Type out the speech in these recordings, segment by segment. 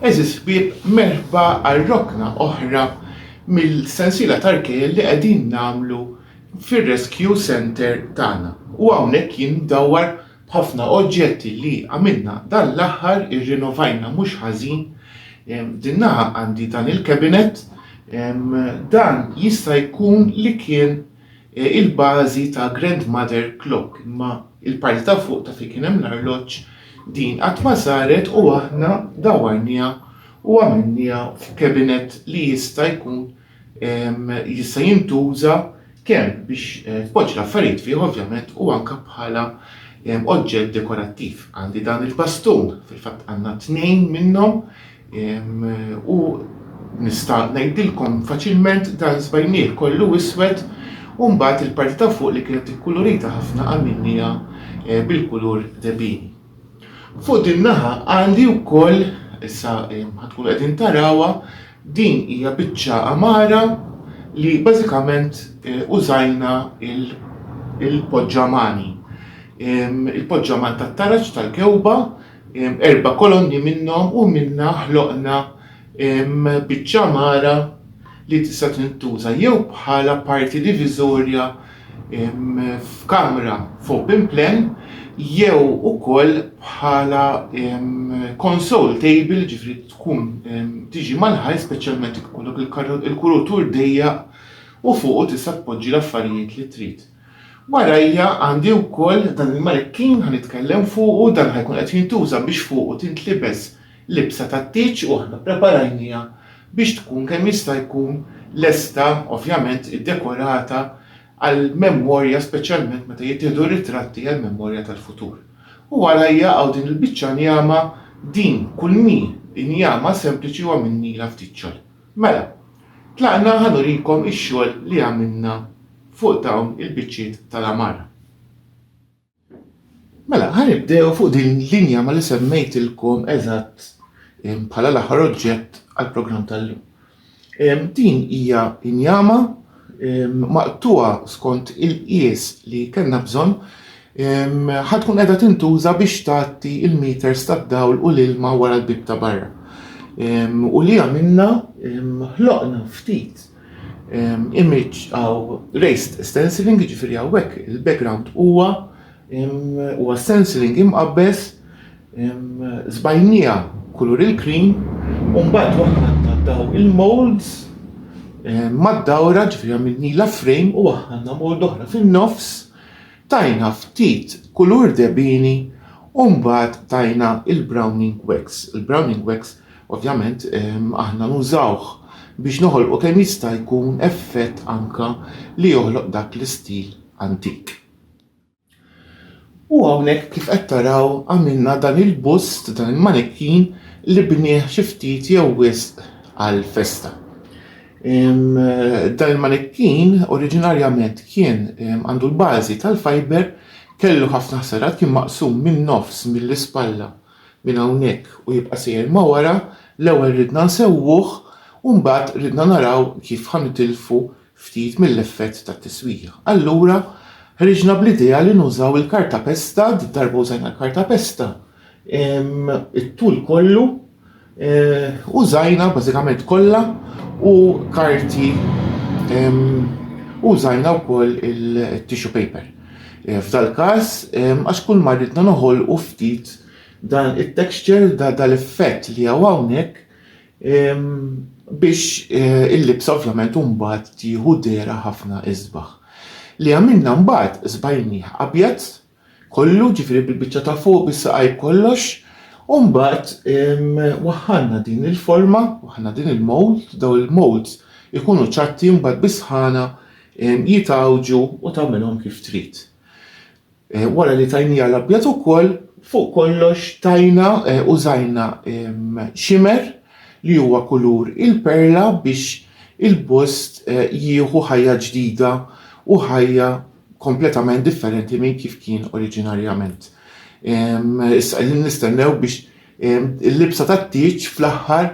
Għeżież ħbieb, merħba għal rokna oħra mill-sensiela ta' rkejl li qegħdin nagħmlu fir-rescue center tagħna. U hawnhekk jien ndawwar b'ħafna oġġetti li għamilna dan l-aħħar, irrinovajna mhux ħażin. Din naħa għandi dan il-cabinet, dan jista' jkun li kien il-bażi ta' Grandmother Clock imma il-parti ta' fuq ta' fejn kien hemm l-arloġġ din qatt ma saret u aħna dawwarniha u għamilniha f'cabinet li jista' jkun jista' jintuża kemm biex tpoġġi l-affarijiet fih ovvjament u anke bħala oġġett dekorattiv. Għandi dan il-bastun, fil-fatt għandna tnejn minnhom, U nista' ngħidilkom faċilment dan żbajnieh kollu iswed u mbagħad il-parti ta' fuq li kienet ikkulurita ħafna għamilniha eh, bil-kulur debini. Fuq din naħa għandi wkoll issa eh, ħatkun qegħdin tarawha din hija biċċa amara li bażikament eh, użajna il-poġġamani. Il-poġġaman tat-taraġ tal-kewba Erba' kolonni minnhom u minnha ħloqna biċċa mara li tista' tintuża jew bħala parti diviżorja f'kamra f'open plan jew ukoll bħala console table, jiġifieri tkun tiġi mal-ħajt speċjalment jekk ikollok il-kurutur dejjaq u fuqu tista' tpoġġi l-affarijiet li trid. Warajja għandi wkoll dan il-manikkin ħa nitkellem fuqu, dan ħa jkun qed jintuża biex fuqu tintlibes libsa tat-tieġ u aħna ppreparajniha biex tkun kemm jista' jkun lesta, ovvjament iddekorata għall-memorja speċjalment meta jittieħdu r-ritratti għall-memorja tal-futur. U warajja hawn din il-biċċa njama, din kulmi njama sempliċi u għamilnilha ftit xogħol. Mela, tlaqna ħa nurikom ix-xogħol li għamilna fuq dawn il-biċċiet tal-għamara. Mela, ħa nibdew fuq din l-linja ma li semmejtilkom eżatt bħala l-aħħar oġġett għall-programm tal-lum. Din hija injama maqtugħa skont il-qies li kellna bżonn ħa tkun qiegħda tintuża biex tgħatti l-meters tad-dawl u l-ilma wara l-bieb ta' barra. U li għamilna ħloqna ftit image għaw raised stenciling, ġifiri għawek il-background huwa Huwa stenciling imqabbeż, żbajnija kulur il-cream, u mbagħad waħna ntattaw il-molds mad-dawra ġifieri għamilnilha frame u waħħalna mold oħra fin-nofs, tajna ftit kulur debini u mbagħad tajna il-browning wax. Il-browning wax ovvjament aħna nużawh biex noħolqu kemm jista' jkun effett anke li joħloq dak l-istil antik. U hawnhekk kif qed taraw għamilna dan il-bust, dan il-manikkin li bnieh xi ftit jew wisq għall-festa. Dan il-manikkin oriġinarjament kien għandu l-bażi tal-fiber, kellu ħafna ħsarat, kien maqsum min-nofs mill-ispalla minn hawnhekk u jibqa' sejjer ma' wara, l-ewwel ridna nsewwuh u mbagħad ridna naraw kif ħa nitilfu ftit mill-effett tat-tiswija. Allura ħriġna bl-idea li nużaw il-kartapesta, darba użajna l-kartapesta, it-tul kollu użajna bażikament kollha u karti użajna wkoll il-tissue paper. F'dal-każ għax kull ma ridna noħolqu ftit dan it-texture, dan l-effett li hawn hawnhekk, biex il-libsa ovvjament mbagħad tieħu dehra ħafna isbaħ. Li għamilna mbagħad sbajnieh abjad kollu, ġifieri bil-biċċa ta' fuq, bis-saqajn b'kollox, u mbagħad waħħalna din il-forma, waħħalna din il-mold, daw il-molds ikunu ċatti mbagħad bis-sħana jitgħawġu u tagħmilhom kif trid. Wara li tajniha l-abjad ukoll, fuq kollox tajna użajna shimmer li huwa kulur il-perla biex il-bust jieħu ħajja ġdida u ħajja kompletament differenti minn kif kien oriġinarjament. Issa qegħdin nistennew biex Il-libsa tat-tieġ fl-aħħar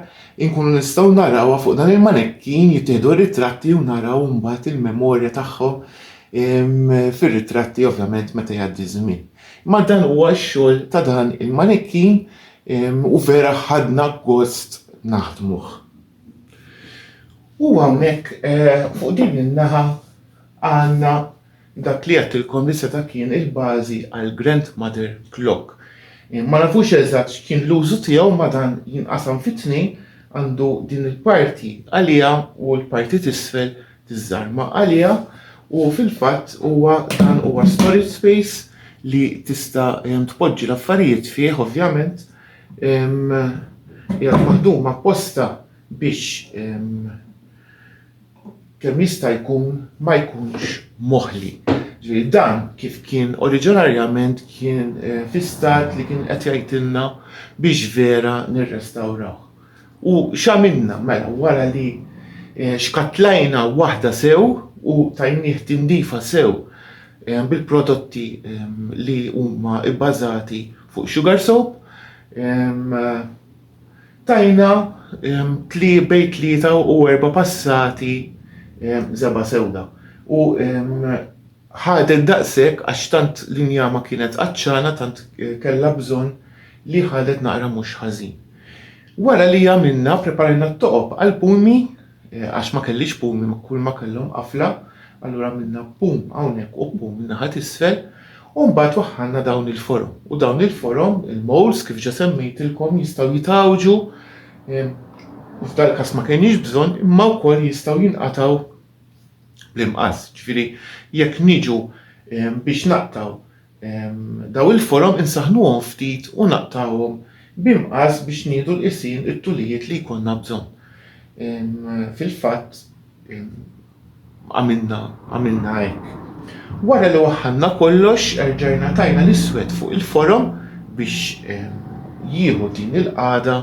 inkunu nistgħu narawha fuq dan il-manekkin jittieħdu r-ritratti u naraw mbagħad il-memorja tagħhom fir-ritratti ovvjament meta jgħaddi żmien. Ma dan huwa x-xogħol ta' dan il-manekkin u vera ħadna gost naħdmuh. U hawnhekk eh, fuq din in-naħa għandna Dak li għedt il-Kondissa ta' kien il-bażi għall-Grandmother Clock. Ma nafux eżatt x'kien l-użu tiegħu ma dan jinqasam fi tnejn, għandu din il-parti għaliha u l-parti t'isfel tiżżarma għaliha u fil-fatt huwa dan huwa storage space li tista' tpoġġi l-affarijiet fih ovvjament hija maħduma apposta biex kemm jista' jkun ma jkunx moħli. Ġifieri dan kif kien oriġinarjament kien eh, fi stat li kien qed jgħidilna biex vera nirrestawrawh. U x'għamilna mela wara li eh, xkatlajna waħda sew u tajnieh tindifa sew eh, bil-prodotti ehm, li huma bbażati fuq sugar soap ehm, Tajna tlie bejn tlieta u erba' passati żebgħa sewda u ħadet daqshekk għax tant l-injama kienet għatxana tant kellha bżonn li ħadet naqra mhux ħażin. Wara li għamilna preparajna t-toqob għall-puni, Għax ma kellix pum imma kulma kellhom qafla, allura għamilna pum hawnhekk u pum in-naħa t'isfel u mbagħad waħħalna dawn il-forom. U dawn il-forom, il-molds kif ġa semmejtilkom jistgħu jitgħawġu u f'dal-każ ma kenniex bżonn imma wkoll jistgħu jinqatgħu bl-imqass. Ġifieri jekk niġu biex naqtgħu Dawn il-forom insaħħnuhom ftit u naqtgħuhom bi mqas biex nieħdu l-qisien it-tulijiet li jkollna bżonn. Fil-fatt għamilna għamilna hekk. Wara li waħħalna kollox erġajna tajna l-iswed fuq il-forom biex jieħu din il-qagħda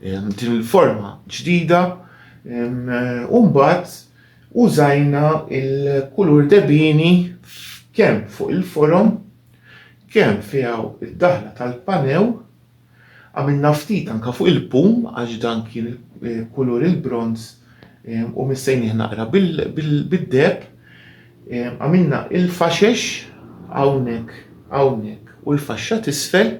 din il-forma ġdida u mbagħad Użajna l-kulur debini kemm fuq il-forom, kemm fi hawn id-daħla tal-panew, għamilna ftit anke fuq il-pum għax dan kien kulur il-bronż u missejnieh naqra bid-deheb, għamilna l-faxex hawnhekk hawnhekk u l-faxxa t'isfel.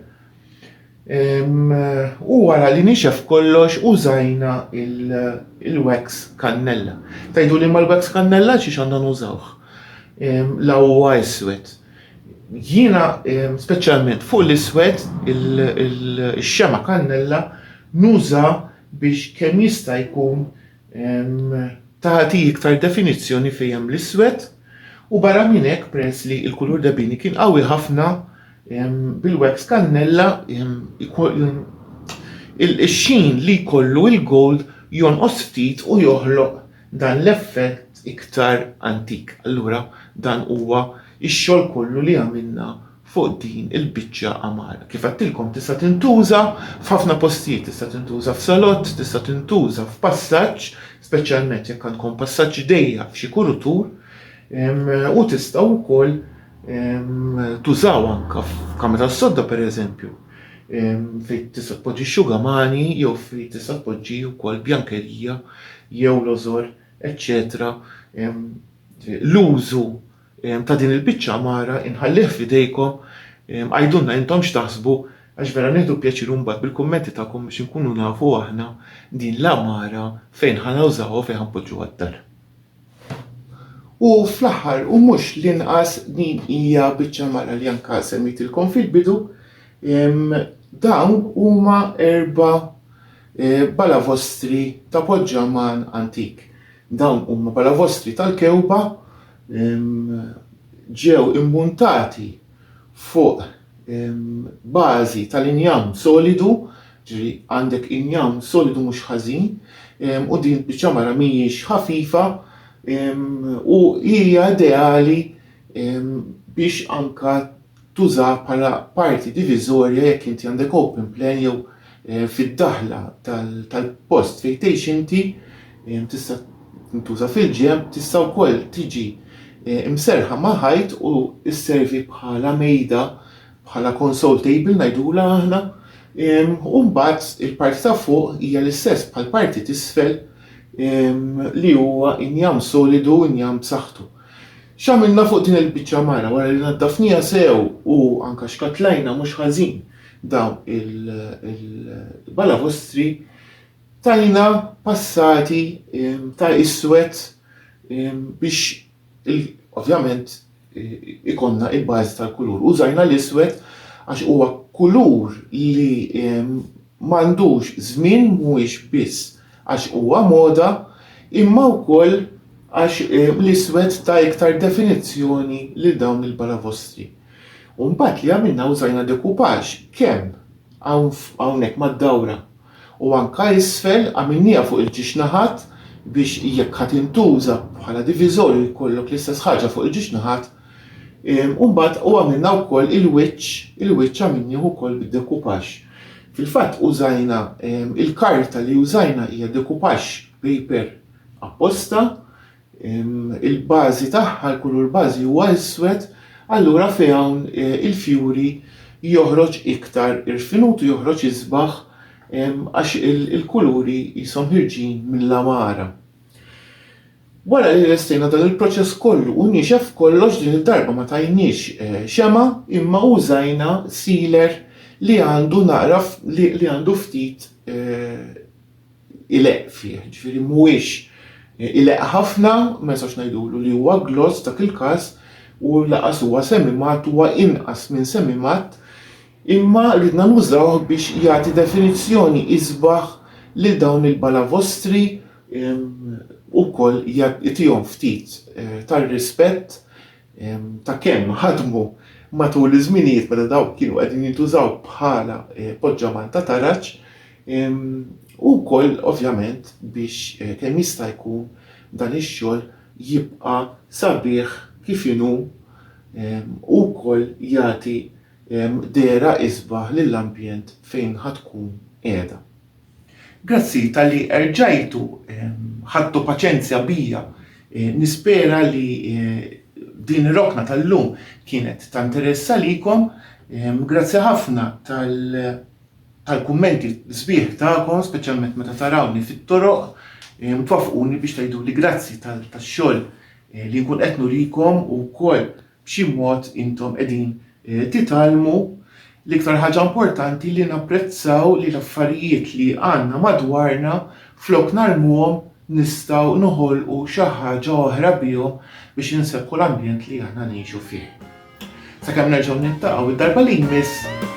U wara li nixef kollox użajna il-wax kannella. Tajdu li mal-wax kannella xiex għandan użawħ. La huwa iswed. Jiena speċjalment fuq l-iswed il-xema kannella nuża biex kemm jista' jkun tagħti iktar definizzjoni fejn hemm l-iswed u barra minn hekk peress li l-kulur debini kien qawwi ħafna bil-wax kannella il-xejn li jkollu il-gold jonqos ftit u joħloq dan l-effett iktar antik. Allura dan huwa x-xogħol kollu li għamilna fuq din il-biċċa għamara. Kif għedtilkom tista' tintuża f'ħafna postijiet, tista' tintuża f'salott, tista' tintuża f'passaġġ, speċjalment jekk għandkom passaġġ dejjaq f'xi kurutur, u tistgħu wkoll tużaw anke f'kamra tas-sodda pereżempju, fejn tista' tpoġġi xugamani jew fejn tista' tpoġġi wkoll bjankerija jew lożor, eċċetera L-użu ta' din il-biċċa għamara inħallih f'idejkom, għidulna intom x'taħsbu għax vera nieħdu pjaċir mbagħad bil-kummenti tagħkom biex inkunu nafu aħna din l-għamara fejn ħa nawżawha u fejn ħa npoġġuha d-dar. U fl-aħħar u mhux l-inqas din hija biċċa għamara li anke semmejtilkom fil-bidu, dawn huma erba' balavostri ta' poġġaman antik. Dawn huma balavostri tal-kewba, ġew immuntati fuq bażi tal-injam solidu, ġri għandek injam solidu mhux ħażin, u din biċċa mara mhijiex ħafifa u hija ideali biex anka tużah bħala parti diviżorja jekk inti għandek open plan jew fid-daħla tal-post fejn tgħix inti tista' tintuża fil-ġenb, tista' wkoll tiġi mserrħa ma' ħajt u sservi bħala mejda, bħala console table ngħidulha aħna, u mbagħad il-parti ta' fuq hija l-istess bħall-parti t'isfel li huwa injam solidu, injam b'saħħtu. X'għamilna fuq din il-biċċa mara wara li naddafniha sew u anke xkattlajna mhux ħażin dawn il-balavostri, tajna passati ta' iswed biex ovvjament ikollna il-bażi tal-kulur. Użajna l-iswed għax huwa kulur li M'għandux żmien mhuwiex biss għax huwa moda imma wkoll għax l-iswed ta iktar definizzjoni lil dawn il-balavostri. U mbagħad li għamilna użajna dekupagġ kemm hawn hawnhekk mad-dawra u anke isfel għamilnieha fuq il-ġiex naħat biex jekk ħa tintuża bħala diviżorju jkollok l-istess ħaġa fuq il-ġiex naħat U mbagħad u għamilna wkoll il-wiċċ, il-wiċċ għamilnieh ukoll bid-dekupax. Fil-fatt użajna il-karta li użajna hija dekupax paper apposta, il-bażi tagħha, l-kulur bażi huwa iswed, allura fi hawn e, il-fjuri joħroġ iktar irfinut u joħroġ isbaħ għax il-kuluri jisom ħirġin mill-lamara. Wara li lestejna dan il-proċess kollu u niexef kollox din id-darba ma tajniex xemgħa imma użajna sealer li għandu naqra li għandu ftit ileqq fih, ġifieri mhuwiex ileqq ħafna, ma nistgħux ngħidulu li huwa gloss f'dak il-każ u lanqas huwa semimatt, huwa inqas minn semimatt imma ridna nużawh biex jagħti definizzjoni isbaħ lil dawn il-balavostri ukoll jagħtihom ftit tar-rispett ta' kemm ħadmu matul iż-żminijiet meta dawk kienu qegħdin jintużaw bħala poġġaman ta' taraġ u wkoll ovvjament biex kemm jista' jkun dan ix-xogħol jibqa' sabiħ kif inhu u wkoll jagħti dehra isbaħ lill-ambjent fejn ħa tkun qiegħda. Grazzi talli erġajtu ħadtu paċenzja bija. Nispera li din ir-rokna tal-lum kienet ta' interess għalikom. Grazzi ħafna tal-kummenti sbieħ tagħkom, speċjalment meta tarawni fit-toroq, twaffquni biex tgħiduli grazzi tax-xogħol li nkun qed nurikom u wkoll B'xi mod intom qegħdin titgħallmu l-iktar ħaġa importanti li napprezzaw li l-affarijiet li għandna madwarna flok narmuhom nistgħu noħolqu xi ħaġa oħra bihom biex insekku l-ambjent li aħna ngħixu fih. Sakemm nerġgħu niltaqgħu d-darba li jmiss.